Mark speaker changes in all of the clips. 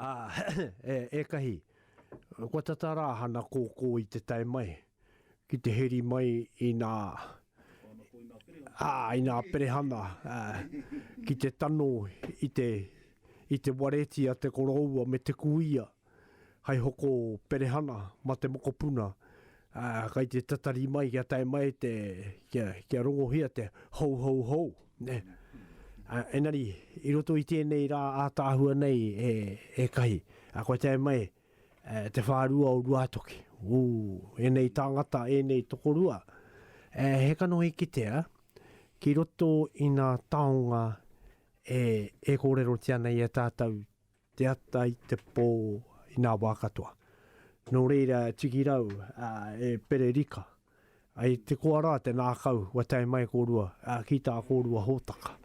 Speaker 1: Ā, ētahi, kua tata rā hana kōkō i te tae mai, ki te heri mai i nā, ā, i nā perehana, ā, ki te tano i te, i te wareti a te koroua me te kuia, hai hoko perehana ma te mokopuna, Ā, kai te tatari mai kia tae mai te, kia, kia rongohia te hou hou hou, nē. Ā, engari, i roto i tēnei rā ātaahua nei e, e kahi, ā, kua tae mai e, te whārua o Ruātoki. Ū, ēnei tāngata, ēnei tokorua, e, he kanohi kitea ki roto i ngā taonga e, e kōrerotia nei e tātou Te ata i te pō i nā wā katoa. Nō reira, tiki rau, e pere rika. I te koa rā te nākau, kua tae mai kōrua ki tā kōrua hōtaka.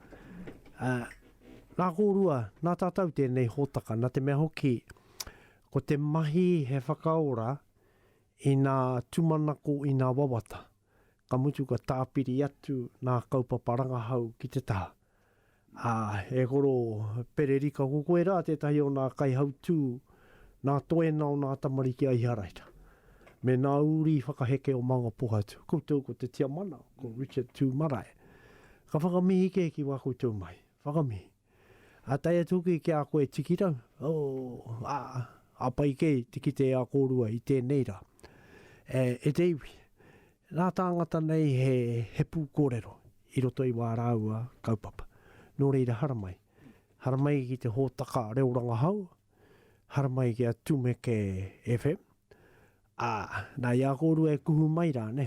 Speaker 1: Nā kōrua, nā tātou tēnei hōtaka, nā te mea hoki, ko te mahi he whakaora i nā tūmanako, i nā wawata, ka mutu ka tāpiri atu nā kaupapa rangahau ki te taha. Ā, e Koro Pererika, ko koe rā tētahi o nā kaihautū, nā Toena o nā tamariki a Iharaira, me nā uri whakaheke o Mangapohatu. Koutou ko te Tiamana, ko Richard Tū Marae. Ka whakamihi kē ki wā koutou mai. Whakamihi. Ā, tae atu hoki ki a koe e Tikirau, oh, ā, ā pai kē te kite e a kōrua i tēnei rā. E, e te iwi, Ngā tāngata nei he pūkōrero i roto i wā rāua kaupapa. Nō reira haramai, haramai ki te hōtaka reo rangahau, haramai ki a Tumeke FM, ā, nā i a kōrua e kuhu mai rā, nē,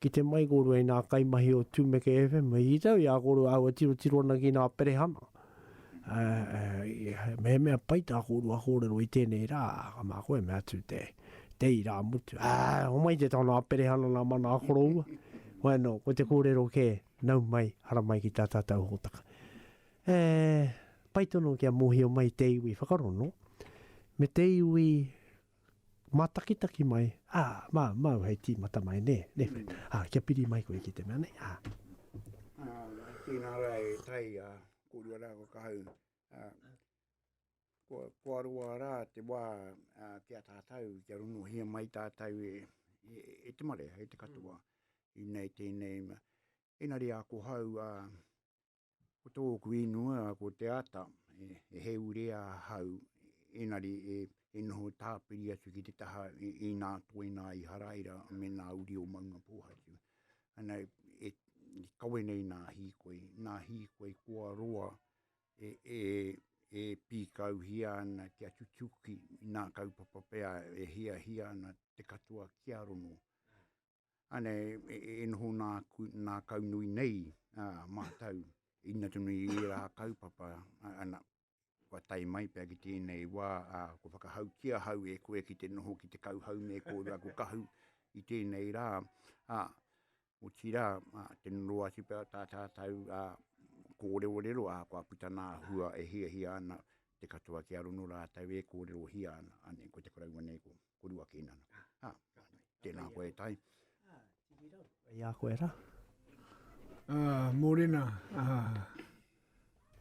Speaker 1: kite mai kōrua i nā kaimahi o Tumeke FM, i tau i a kōrua aua tirotiro ana ki nā perehana. Mehemea pai tā kōrua kōrero i tēnei rā, ka mā koe me atu te, te irāmutu. Ā, homai te taonga aperehana nā mana a koroua. Wai anō, ko te kōrero kē, nau mai, hara mai ki tā tātou hōtaka. E, pai tonu kia mōhio mai te iwi whakarono, me te iwi Mātakitaki mai, ā, mā, māu hei tīmata mai, nē, nē whai. Ā, kia piri mai koe ki te mea nei, ā. Ā, i
Speaker 2: tēnā rā e tai, ā, kōrua rā kua kahau, ā, kua, kua roa rā te wā, ā, ki a tātou, kia rongohia mai tātou e, e, e te marea, e te katoa. Inei tēnei mea. Engari ākohau, ā, Ko tōku ingoa ko Te Ata, e he ure ahau, engari e noho tāpiri atu ki te taha i nā toi nā Iharaira me nā uri o Maungapōhatu. Ana e kawe nei nā Hīkoi, nā Hīkoi kua roa e, e, e pīkauhia ana kia tutuki nā kaupapa pea e hiahia ana te katoa kia rongo. Anei, e noho nā, nā kau nui nei ā mātou, ina tonu i ērā kaupapa, ana, kua tae mai pea ki tēnei wā, ā, kua whakahauki ahau e koe ki te noho ki te kauhau me kōrua ko Kahu i tēnei rā, ā, otirā, ā, tino noa atu pea tā tātou, ā, kōrerorero, ā, kua puta nā hua e hiahia ana te katoa kia rono rātou e kōrerohia ana, anei, ko te koroua nei ko. Kurua Kinana. Ah, tēnā koe e tai. Ia
Speaker 1: ah, koe ra. Ah, morena.
Speaker 3: Ah,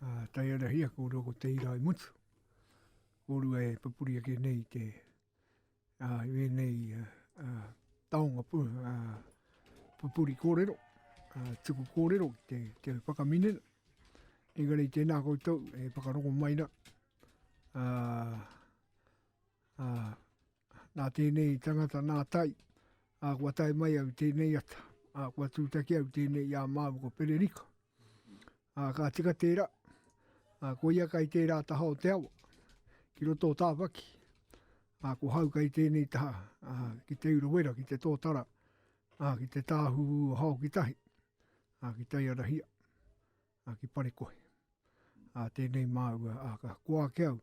Speaker 3: ah, tai ara hia ko roko te ira i mutu. Korua e papuri ake nei te ah, i nei ah, ah, taonga pu, ah, papuri kōrero. Ah, tuku kōrero ki te, te whakaminen. Engari tēnā koutou e whakaroko mai na. Ah, Ā, nā tēnei tangata nā Tai, ā, kua tae mai au i tēnei ata, ā, kua tūtaki au i tēnei i a māu ko Pererika. Ā, ka tika tērā, ā, ko ia kai tērā taha o te awa, ki roto o Tāwhaki, ā, ko hau kai tēnei taha, ā, ki Te Urewera, ki Te Tōtara, ā, ki Te Tāhuhu o Haokitahi, ā, ki Taiarahia. A ki Parekohe. A tenei maua a ka koa ake au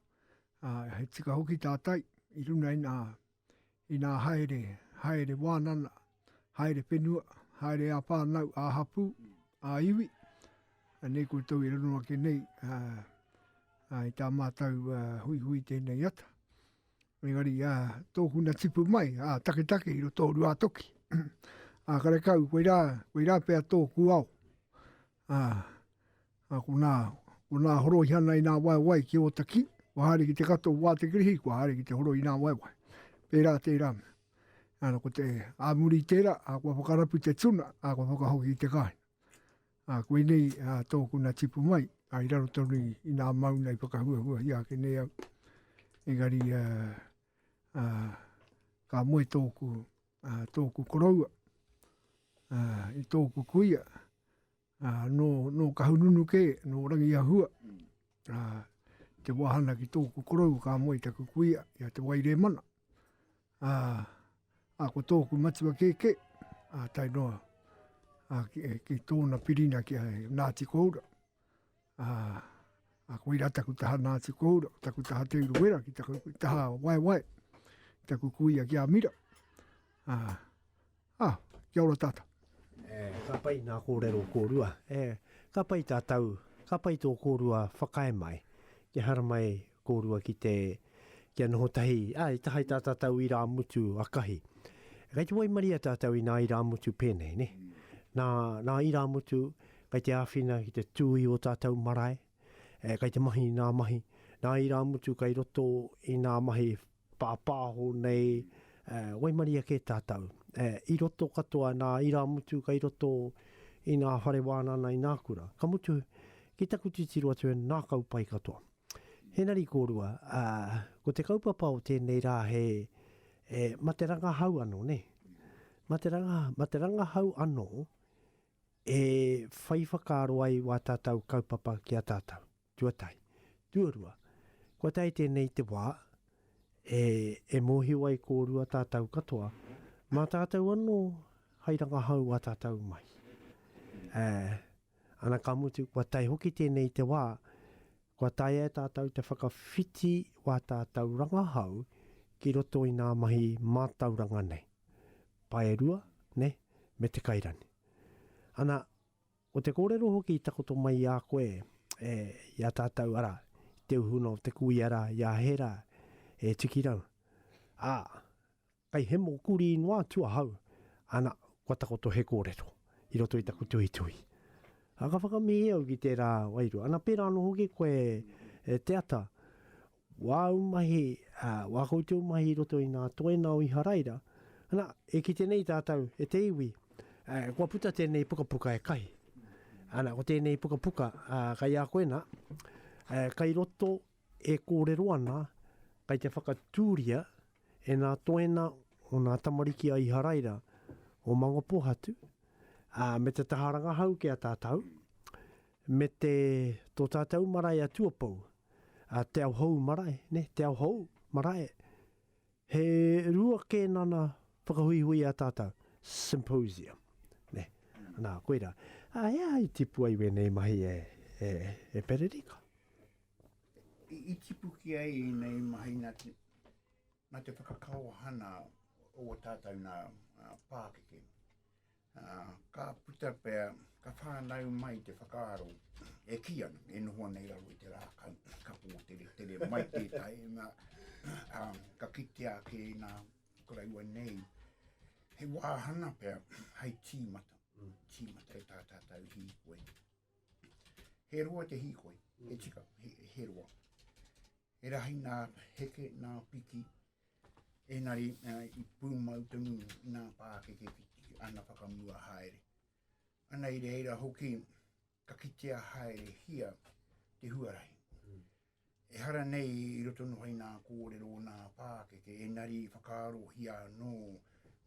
Speaker 3: a he tika hoki ta tai i runa ina ina haere haere wanana haere penua haere a whanau a hapu a iwi a nei ko tau i runa ake nei a a i ta matau a hui hui tenei ata me ngari a toku na tipu mai a take take i ro toru a toki a kare kau koira koira pe a toku au Ā, ā konā, konā horoi ana i nā waewae ki Ōtaki, kua haere ki te katoa o Wātekirihi, kua haere ki te horoi i nā waewae. Pērā tērā mea. Ā, nō ko te, ā muri i tērā, ā, kua whakarapu te tuna, ā, kua whakahoki i te kāinga. Ā, koinei, ā, tōku na tipu mai, ā, i raro tonu i, i nā mauna i whakahuahuahia ake nei au. Engari, ā, ā, ka moe tōku. a tōku koroua, a, i tōku kuia, a, nō, nō Kahununu kē, nō Rangiahua, a, te wāhana ki tōku koroua ka moe taku kuia, i a Te Wairēmana. A, a ko tōku matua kēkē, a tae noa a, ki, ki tōna pirina ki a Ngāti Koura. ā, a koirā taku taha Ngāti Kohura, taku taha Te Urewera, ki taku taha Waewae, taku kuia ki a Mira. Ā, ā, kia ora tātou. E, ka pai
Speaker 1: nā kōrero kōrua. E, ka pai tātou, ka pai tō kōrua whakae mai, te haramai Kōrua ki te, kia noho tahi, ā, i taha i tā tātou irāmutu akahi. Kei te waimaria tātou inā irāmutu pēnei, nē? Nā, nā irāmutu, kei te āwhina ki te tū i ō tātou marae, e, kei te mahi nā mahi, nā irāmutu kei roto i nā mahi pāpāho nei, ā, waimaria kē tātou, ā, i roto katoa nā irāmutu kei roto i nā whare wānana i nā kura. Ka mutu, ki taku titiro atu e ngākau pai katoa. Henari kōrua, ā, ko te kaupapa o tēnei rā he, e, ma te rangahau anō, nē? Ma te ranga, ma te rangahau anō e whai whakaaro ai wā tātau kaupapa ki a tātau, tuatahi. Tuarua, kua tae tēnei te wā, e, e mōhio ai kōrua tātau katoa, mā tātau anō hai rangahau wā tātau mahi. Ā, Ana ka mutu, kua tae hoki tēnei i te wā, kua taea e tātou te whakawhiti wā tātou rangahau ki roto i ngā mahi mātauranga nei, paerua, nē, me te kairani. Ana, ko te kōrero hoki i takoto mai i a koe, e, i a tātou, arā, i te uhuna o te kuia rā, i a Hēra, e Tikirau, ā, Kei hemo kurī noa atu ahau, ana, kua takoto he kōrero i roto i taku tuhituhi. Ā, ka whakamihi au ki tērā wairua. Ana, pērā anō hoki koe, e te ata, wā ū mahi, ā, wā koutou mahi i roto i ngā toenga o Iharaira, ana, e kite nei tātou, e te iwi, ā, kua puta tēnei pukapuka e Kahi. Ana, ko tēnei pukapuka, ā, kei a koe nā, ā, kei roto e kōrero ana, kei te whakatūria E ngā toena o ngā tamariki a Iharaira o Mangopohatu, ā, me te taha rangahau ki a tātou, me te, tō tātou marae a Tuapou, a Te Aohou marae, nē, Te Aohou marae, he rua kēnana whakahuihui a tātou, symposium, nē, nā, koira. Ā, he aha i tipu ai wēnei mahi e, e, e Pererika?
Speaker 2: I tipu ki ai ēnei mahi nā te, nā te whakakaohana o ō tātou nā pākeke. Ka puta pea, ka whānau mai te whakaaro e kī ana, e noho ana i raro i te rākau, ka pōtere tere mai tētahi, nā, ka kitea ake nā, ko rāua nei, he wāhana pea, hei tīmata, tīmata e tā tātou hīkoi. He roa te hīkoi, he tika, he, he roa. He rahi nā heke, nā piki, engari uh, i pūmau te ngungu, nā pākeke ki ana whakamua haere. Ana i reira hoki, ka kitea haere hia te huarahi. Mm. E hara nei i roto nohai nā kōrero o nā pākeke, engari i whakaaro hia anō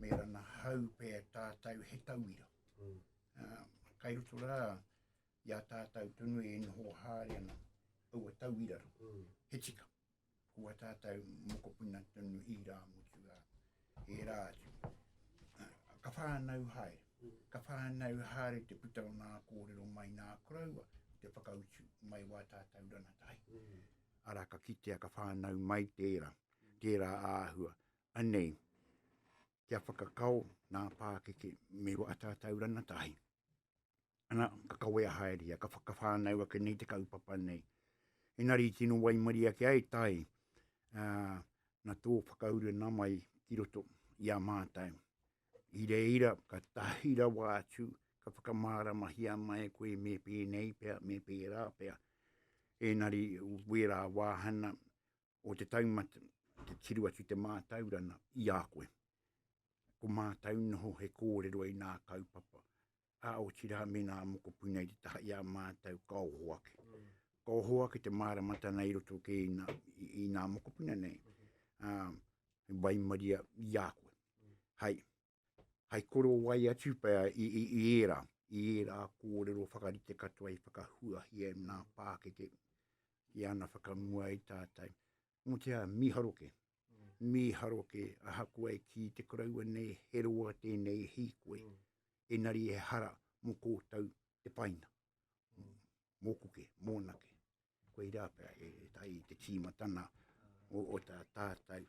Speaker 2: me rana hau pē tātou he tauira. Mm. kai roto rā i a tātou tonu e noho haere ana aua tauira rā, mm. he tika. Ko a tātou mokopuna tonu i rā motu rā, e rā atu. Ah, ka whānau haere, mm. ka whānau haere te puta o nā kōrero mai nā kuraua, te whakautu mai wā tātou rana tahi. Mm. Ara ka kitea ka whānau mai tērā, tērā āhua. Anei, kia whakakao nā pākeke me wā tātou ranatahi. Ana, ka kawea haere ia, ka whakawhānau ake nei te kaupapa nei. Enari tino waimari ake ai tai, uh, na tō whakauru nā mai ki roto i a mātou. I reira, ka tahi rawa atu, ka whakamāramahia mai koe me pēnei pea, me pērā pea. Enari, wērā wāhana, o te taumata, te tiru atu te mātaurana i a koe. Ko mātau noho he kōrero i nā kaupapa, a o tira me nā mokopuna i te taha i a mātau ka oho ake. Mm. Ka oho ake te māramatana i roto ke i nā, i, i nā mokopuna nei. Mm. Um, waimaria i a koe. Mm. Hai, hai korowai atu pea i, i, i era, i era kōrero whakarite katoa i whakahuahia e nā pākete i ana whakamua i tātai. Mo te a miharoke, mm. miharoke ahakoa e ki te karaua nei he roa tēnei hīkoi, mm. enari e hara mo kōtau te paina, mm. mō kuke, mō nake. Koirā pea e tahi i te tīmatana o tā tātou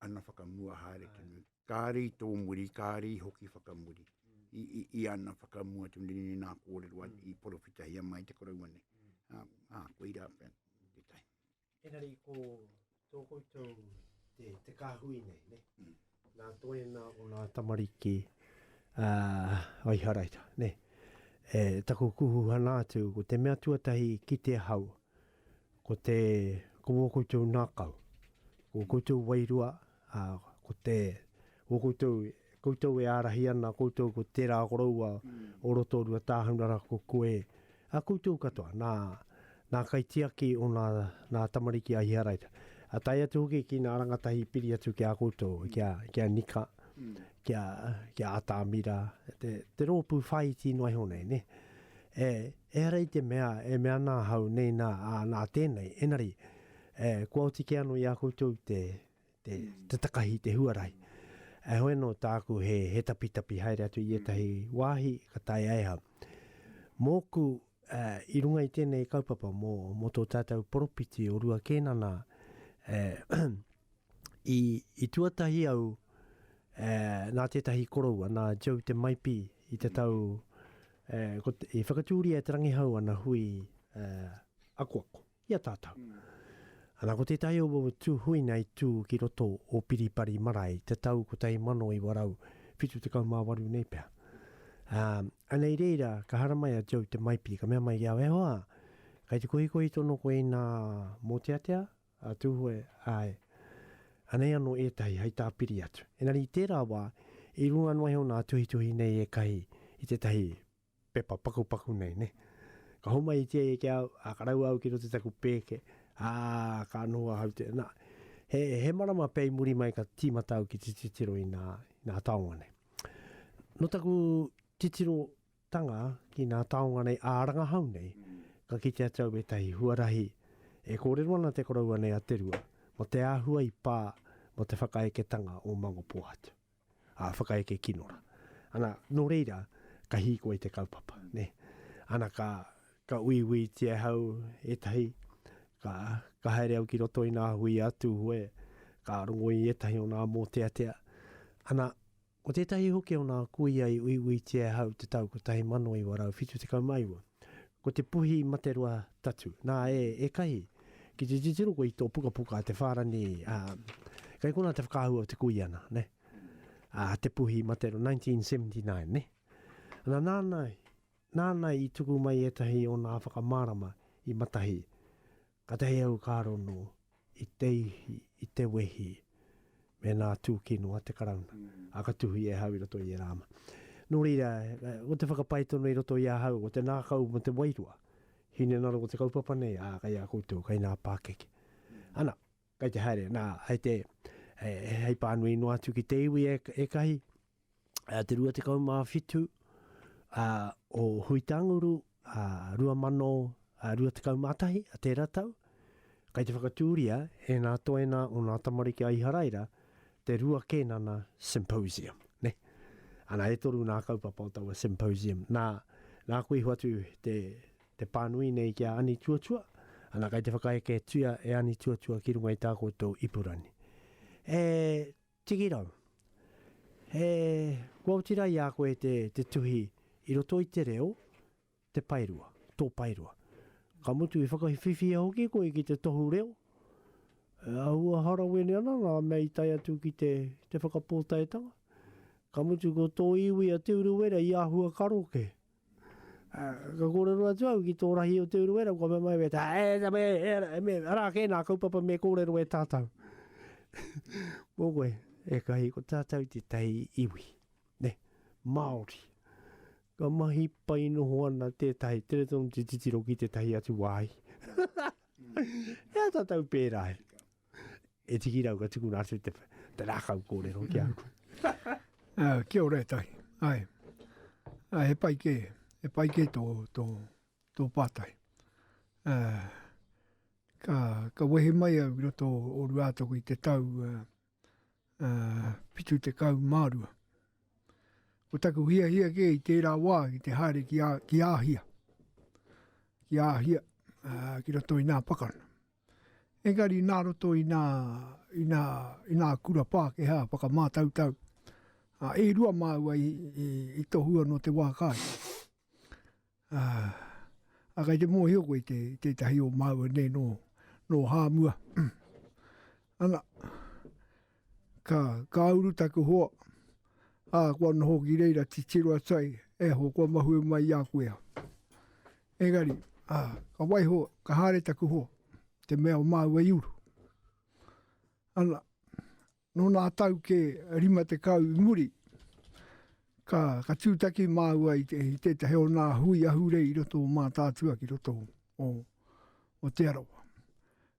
Speaker 2: ana whakamua haere tonu. Kāre i tō muri, kāre i hoki whakamuri i, i, i ana whakamua tu ni ni nā kōrero mm. i porowhitahia mai te koroua nei. Mm. Ah, ah, koirā pea, te tai. Engari ko
Speaker 1: Tō koutou te, te kāhui nei, ne? Mm. Nā toena o nā tamariki a uh, Aiharaira, ne? E, taku kuhuhana atu, ko te mea tuatahi ki te hau, ko te, ko wō koutou nākau, ko koutou wairua, a, uh, ko te, Ko koutou, koutou e ārahi ana, koutou ko tērā koroua o Rotorua Tāhunara ko koe, a koutou katoa, nā, nā Kaitiaki o nā, nā tamariki a Iharaira. A tae atu hoki ki nā rangatahi i piri atu ki a koutou, ki a, ki a Nika, ki a, ki a Atamira, te, te rōpū whāiti noa iho nei, nē. E, ehara i te mea, e mea ana ahau, nei nā, ā, nā tēnei, engari, e, kua oti kē anō i a koutou te, te takahi i te huarahi. Heoi anō tāku he tapitapi haere atu i ētahi wāhi ka taea e au. Mōku, i runga i tēnei kaupapa mō tō tātou poropiti o Rua Kēnana, i tuatahi au nā tētahi koroua, nā Joe Te Maipi i te tau, i whakatūria e Te Rangihau ana hui akoako. I a tātou. Ana ko tētahi o aua tūhuina i tū ki roto o Piripari marae te tau 1978 nei pea. Ā, ana i reira ka haramai a Joe te maipi, ka mea mai i au, E hoa! Kai te kohikohi tonu koe inā mōteatea, a Tūhoe, āe. Anei anō ētahi hei tāpiri atu. Engari i tērā wā, i runga noa iho nā tuhituhi nei ēkahi i tētahi pepa pakupaku nei, nē. Ka homaitia ia ki a au, ā, ka raua au ki roto i taku pēke, ā, ka noho ahau te, nā, he, he marama pea i muri mai ka tīmata au ki te titiro i nā, i nā taonga nei. Nō taku titirotanga ki nā taonga nei ā rangahau nei, ka kite atu au ētahi huarahi e kōrero ana te koroua nei a Te Rua mō te āhua i pā mō te whakaeketanga o Mangopōhatu. ā, whakaeke kino rā. Ana, nō reira, ka hīkoi i te kaupapa, nē. Ana, ka, ka uiuitia e hau ētahi, ka, ka haere au ki roto i nā hui a Tūhoe, ka rongo i ētahi o nā mōteatea. Ana, ko tētahi hoki o nā kuia i uiuitia e hau te tau 1979. Ko te puhi i mate roa tatu. Na, e, ekahi, ki te titiro koe i to pukapuka a te wharani, a, kei kona te whakaahua o te kuiana, ne? A, te puhi i mate roa, 1979, ne? Na, nana, nana i tuku mai etahi o na whakamarama i matahi. Katahi au ka rono i te ihi, i te wehi, mēnā tūkino a te Karauna, a ka tuhi e ahau i roto i ērā ama. Nō reira, ko te whakapae tonu i roto i ahau, ko te nākau mō te wairua, hinengaro o te kaupapa nei, ā, kei a koutou, kei ngā pākeke. Ana. Kei te haere, nā, hei te, hei pānui noa atu ki te iwi ekahi, te 27 o Huitanguru 2021, tērā tau, kei te whakatūria e nā toenā o nā tamariki a Iharaira te Rua Kēnana Symposium, nē. Ana, e toru nā kaupapa o taua Symposium, nā, nā koe i hoatu te Te pānui nei ki a Anituatua, ana kai te whakaeke tuia e Anituatua ki runga i tā koutou ipurangi. He tikirau, he kua oti rā i a koe te, te tuhi i roto i te reo, te paerua, tō paerua. Ka mutu i whakawhiwhia hoki koe ki te tohu reo, e āhua harawene ana ngā mea i tae atu ki te, te whakapōtaetanga. Ka mutu ko tō iwi a Te Urewera i āhua karo kē. Ka kōrero atu au ki tō rahi o Te Urewera, kua mea mai, weta, e, e, e, e, e, me, arā kē nā kaupapa me kōrero e tātou. Mō koe, e kahi, ko tātou te tai iwi, ne, Māori. Ka mahi pai noho ana tētahi, tere tonu te titiro ki tētahi atu wāhi. e a tātou pērā e. E tiki rau ka tukuna atu te, te rākau kōrero ki a koe. uh,
Speaker 3: kia ora e tahi. Ai. Uh, he pai kē. He pai kē tō, tō, tō pātai. Uh, ka, ka wehi mai au i roto o Ruātoku i te tau uh, uh, pitu te kau mārua. Ko taku hia hia kē i tērā wā ki te haere ki, a, ki āhia. Ki āhia uh, ki roto i nā pakana. Engari nā roto i nā, i nā, i nā kura Pākehā whakamātautau, ā, e rua māua i, i, i tohua nō te wā kāi. Ā, ā, kei te mōhio koe i te, i tētahi o māua nei nō, nō Hāmua. Ana. Ka, ka uru taku hoa, ā, kua noho ki reira titiro atu ai, E ho, kua mahue mai i a koe au. Engari, ā, ka waiho, ka haere taku hoa, te mea o māua i uru. Ana, nō nā tau kē rima tekau i muri, ka, ka tūtaki māua i, te, i tētahi o nā hui ahurei i roto o Mātaatua ki roto o, o, o Te Arawa.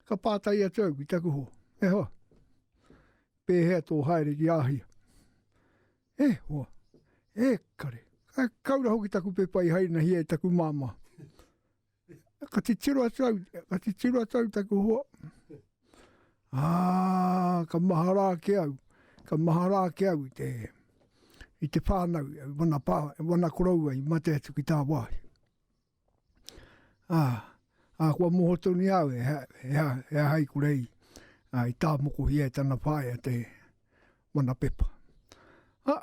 Speaker 3: Ka pātai atu au ki taku hoa, e hoa, pēhea tō haere ki Āhia? E hoa, e kare, ka kaura hoki taku pepa i hainahia e taku māmā. Ka titiro atu au, ka titiro atu au taku hoa. Ā, ka mahara ake au, ka mahara ake au i te, i te whānau, wana, pā, wana koroua i mate atu ki tā wāhi. ā, ā, kua moho tonu i a au he, he, aha, he aha i kura i, ā, i tāmokohia e tana whaea te mana pepa. Ā,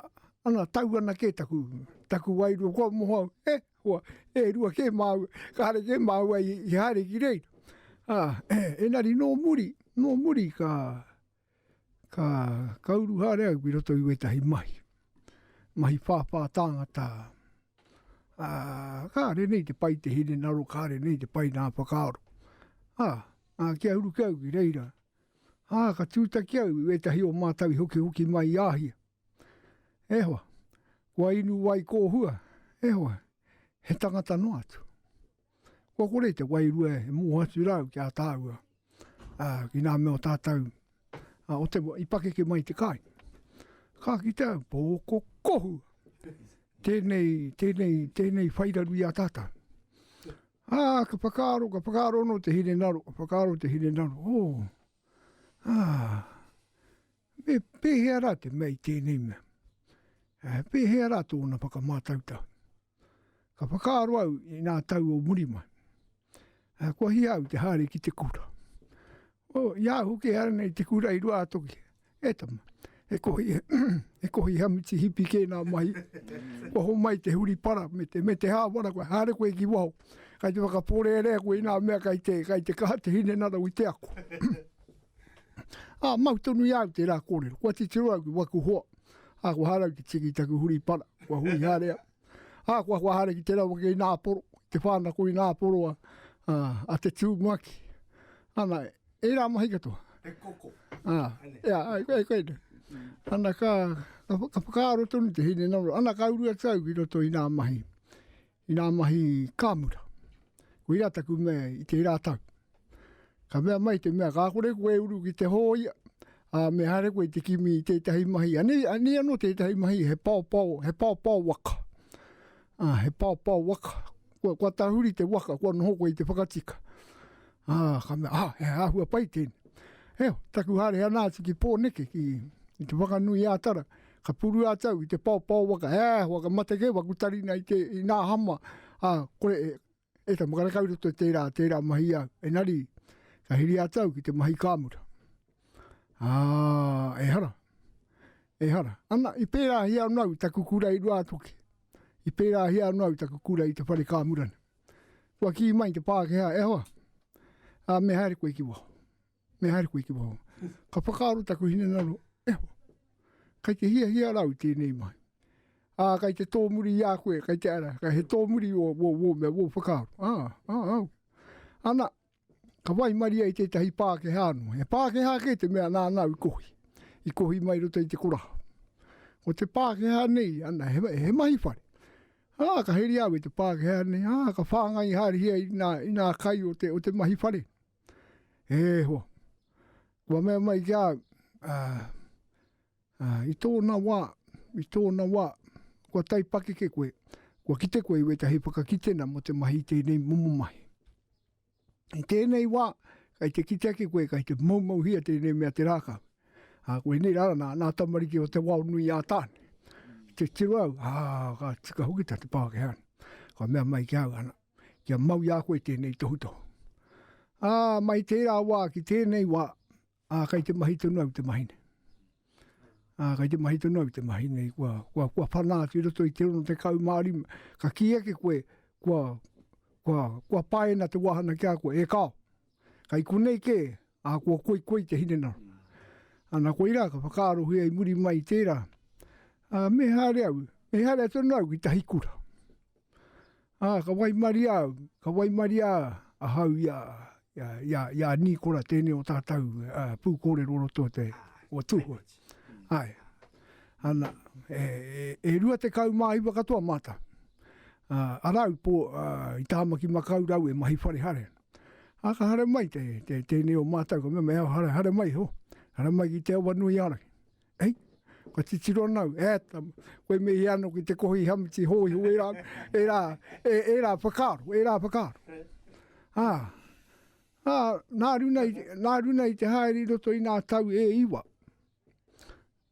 Speaker 3: ana, tau ana kē taku, taku wairua, kua moho au, e, hoa, e rua kē māua, kāre kē māua i, i haere ki reira. Ā, engari nō muri, nō muri ka, ka kauru haere au ki roto i wētahi mahi, mahi whāwhā tāngata. Ā, kāre nei te pai te hinengaro, kāre nei te pai ngā whakaaro. Ā, ā, kia uru kē au ki reira, ā, ka tūtaki au i wētahi o mātau i hokihoki mai i Āhia. E hoa, kua inu ai kō hua, e hoa, he tangata noa atu. kua kore te wairua e moho atu rā au ki a tāua, ā, ki ngā mea o tātou, ā, o te, i pakeke mai te kai. Ka kitea au, pōko kohu, tēnei, tēnei, tēnei whairaru i a tātou. Ā, ka whakaaro, ka whakaaro anō te hine naro, ka whakaaro te hine naro, ō, ā, me pēhea rā te mea i tēnei mea? Ā, pēhea rā tōna whakamātautau? Ka whakaaro au i nā tau o muri mai. A kua hia au te haere ki te kura. O, i a au hoki e ara nei te kura i Ruātoki. E tama, he kohi, he kohi hamiti hipi kē nā mahi. Kua homai te huri para me te, me te hāwara koe, haere koe ki waho. Kai te whakapōrearea koe i nā mea kai te, kai te kaha te hinengaro i te ako. A, mau tonu i a au tērā kōrero. Kua titiro au ki waku hoa. A, kua haere au ki tiki taku huri para. Kua hui haere au. A, kua hua haere ki tērā wake ina aporo. Te whānako ina aporo a, a, a te tūmuaki. Ana, e rā mahi katoa.
Speaker 1: He koko.
Speaker 3: A, ea, ai, ai, ai, ai. Ana, ka, ka, ka whakaaro tonu te hine naro. Ana, ka uru atu au ki roto i nā mahi. i ngā mahi kāmura. Koirā taku mea i tērā tau. Ka mea mai te mea, ka kore koe e uru ki te hōia, a me haere koe te kimi i tētahi mahi. Anei, anei anō tētahi mahi, he paopao, he paopao waka. A, he paopao waka. Kua, kua tahuri te waka, kua noho koe i te whakatika. A, ka mea, ah, he āhua pai tēne. Eo, taku hare ana atu ki Pōneke, ki, ki te whakanui ātara, Ka puru a tau i te paopao waka, he aha e hoa, ka mate kē waku tarina i te, i nā hama, a, kore e, e tama, ka reka i roto i tērā, tērā mahi au. Enari, ka hiri a tau ki te mahi kāmura. Ā, ehara, ehara. Ana, i pērāhia ana au taku kura i Ruātoki. I pērāhia ana au taku kura i te whare kāmura. Kua kī mai te Pākehā, e hoa, a, me haere koe ki waho. Me haere koe ki waho. Ka whakaaro taku hinengaro, e ho, kai te hia hia rau tēnei mai. Ā, kai te tōmuri i a koe, kai te ara, kai he tōmuri o, o, o, mea, o whakaaro. Ā, ā, ā. Ana, ka wai maria i tētahi Pākehā anō. He Pākehā kē te mea nā nāu i kohi. I kohi mai roto i te koraha. Ko te Pākehā nei, ana, he, he mahi whare. Ā, ka heri au e te Pākehā nei, ā, ka whāngai haere hia i nā, i nā kai o te, o te mahi whare. E hoa, kua mea mai ki a au, i tōna wā, i tōna wā, kua taipakeke koe, kua kite koe i wētahi whakakitenga mō te mahi i tēnei momo mahi. I tēnei wā, kai te kite ake koe, kai te moumouhia tēnei mea te rākau. Ā, koinei rā rā, nā, nā tamariki o Te Waonui-ā-Tāne, te tiro au, ā, ka tika hoki tā te Pākehā. Ka mea mai ki a au, ana, kia mau i a koe tēnei tohutohu. Ā, mai tērā wā ki tēnei wā, ā, kei te mahi tonu au te mahi nei. Ā, kei te mahi tonu au te mahi nei, kua, kua, kua whanā atu i roto i te 65, ka kī ake koe, kua, kua, kua paena te wāhana ki a koe, e kāo. Kai konei kē, ā, kua koikoi te hinengaro. Ana koirā ka whakaarohia i muri mai i tērā, ā, me haere au, me haere tonu au ki tahi kura. Ā, ka waimaria au, ka waimaria ahau i a, i a, i a, i a Nīkora tēnei o tātou pūkōrero o roto o te, o Tūhoe. Āe. Ana, e, e, e rua tekau mā iwa katoa mātou. Ā, a rāu pō, ā, i Tāmaki Makau rāu e mahi whare hare. Ā, ka hare mai te, te, tēnei o mātou, ka mea, me au hare, hare mai ho, hare mai ki te awa nui a Araki. Hei, kua titiro ana au, e ata, koe me ia ano ki te kohi hamiti hōiho, e rā, e rā, e, e rā whakaaro, e rā whakaaro. Ā, ā, nā runa, i, nā runa i te haere i roto i nā tau e iwa.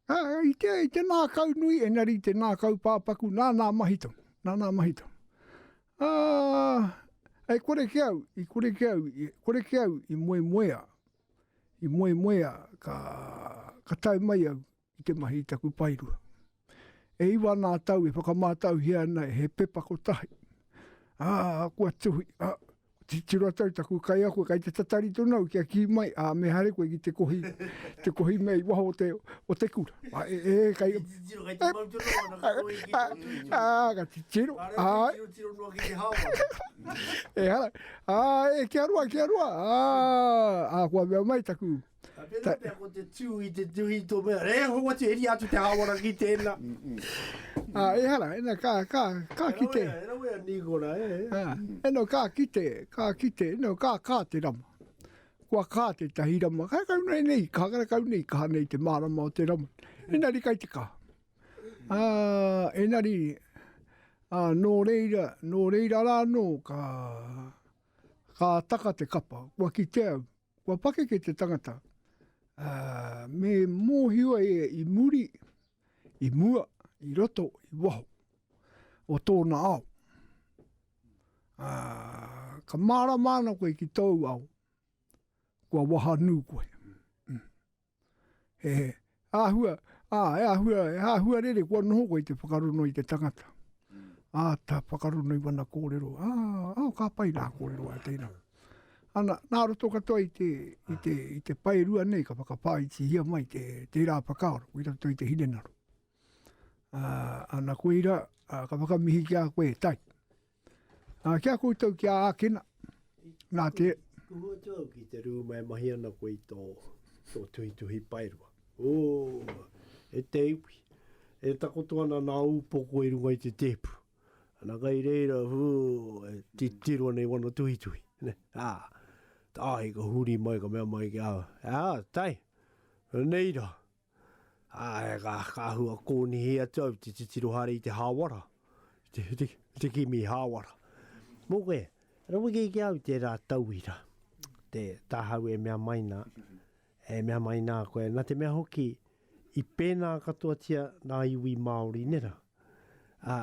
Speaker 3: Ā, i te, i te nā kau nui, enari i te nā kau pāpaku, nā nā mahito, nā nā mahito. Ā, e kore ke au, i kore ke au, i kore ke au, i moe moea. I moemoea ka, ka tae mai au i te mahi i taku paerua. E iwa nā tau e whakamātauhia ana he pepa kotahi. Ā, kua tuhi, ā, titiro atu au taku kaiako, kei te tatari tonu au kia kī mai, ā, me haere koe ki te kohi, te kohi mea i waho o te, o te kura. Ā, e, e, kei. Kei te titiro, kei te mau tonu au ana ka kohi ki te kohi. Ā, ka titiro, āe. Ka reo titiro, titiro noa ki te hao ana. Ehara. Ā, e kia roa, kia roa, ā, ā, kua mea mai taku. Ā, tēnā pea ko te
Speaker 1: tū i te tuhi tō mea, e hoa atu, heria atu te hāwara ki tēnā. Ā,
Speaker 3: ehara, ena, ka, ka, ka kite. E rawe a, e rawe a Nīkora,
Speaker 1: e. Ā, eno,
Speaker 3: ka kite, ka kite, eno, ka, ka te rama. Kua ka tētahi rama, karekau nei, nei, karekau nei, kaha nei te mārama o te rama. Ena, reka i te kaha. Ā, engari, ā, nō reira, nō reira rā anō ka, ka taka te kapa. Kua kitea, kua pakeke te tangata, ā, me mōhio ia i muri, i mua, i roto, i waho o tōna ao. Ā, ka mārama ana koe ki tōu ao, kua wahanū koe. he āhua, ā, he āhua, he āhua rere kua noho koe i te whakarono i te tangata. Ā, ta whakarono i wana kōrero, ā, ā, ka pai rā kōrero a tēnā. Ana, nā roto katoa i te, i te, i te paerua nei, ka whakawhāitihia mai te, tērā whakaaro, i roto i te hinengaro. Ā, ana koe ira, ā, ka whakamihi ki a koe, tai. Ā, ki a koutou ki a ākina, nā te. Kuhu atu au ki
Speaker 1: te rūma e mahi ana koe i tō, tō tuhituhi paerua. Ō, e te iwi, e takoto ana nā ūpoko i runga i te tēpu. Ana kai reira, ū, e titiro ana i wana tuhituhi, nē. Ā, tāhi ka huri mai ka mea mai ki a, ā, tae, reira, Ā, ka āhua kōnihi atu au te titiro haere i te hāwara, i te kimi hāwara. Mō koe, raweke ki a au tērā tauira, te tāhau e mea mai nā, e mea mai nā koe, nā te mea hoki, i pēnā katoatia ngā iwi Māori nera. Ā,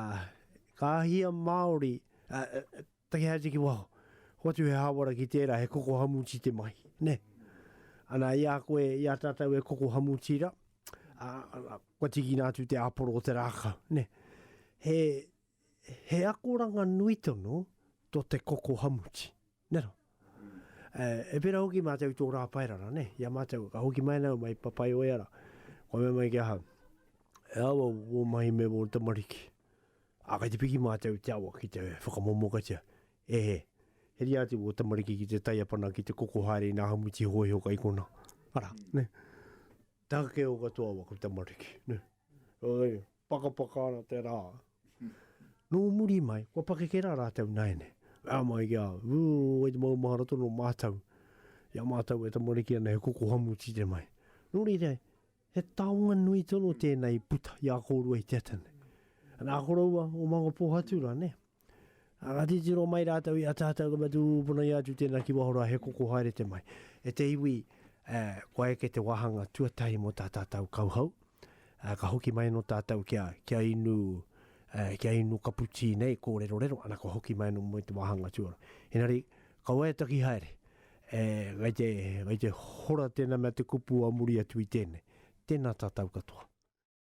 Speaker 1: ka hia Māori, ā, Takea ai te ki waho. Hoatu he hāwara ki tērā, he koko hamuti te mahi, nē. Ana, i a koe, i a tātou e koko hamuti rā, ā, kua tīkina atu te āporo o te rākau, nē. He, he akoranga nui tonu tō te koko hamuti, nē rā. E pērā hoki mātou i tō rā paerara, nē, i a mātou, ka hoki mai nāu mai Papaioea rā, kua mea mai ki ahau, e awa wō mahi me wō tamariki, ā, kei te piki mātou i te awa ki te whakamomokatia, e he, heria atu wō tamariki ki te taiapana, ki te koko haere i nā hamuti hōiho kai konā, arā, nē, takeo katoa waku tamariki, nē, Pakapaka ana te rā. Nō muri mai, kua pakeke rā rātou nāianei. Mea mai ki a au, Wū, wai te maumahara tonu o mātou i a mātou e tamariki ana he koko hamu tīre mai. Nō reira, he taonga nui tonu tēnei i puta i a kōrua i te ata nei. Nā koroua o Mangapōhatu rānei? Ā, ka titiro mai rātou i a tātou ka mutu ūpuna ia atu tēnā ki waho rā he koko haere te mai. E te iwi, ā, kua eke te wāhanga tuatahi mō tā tātou kauhau, ā, ka hoki mai anō tātou kia, kia inu, ā, kia inu kapu tī nei, kōrerorero, ana kua hoki mai anō mō te wāhanga tuarua. Engari, ka waiataki haere, ē, kei te, kei te hora tēnā mea te kupu a muri atu i tēnei. Tēnā tātou katoa.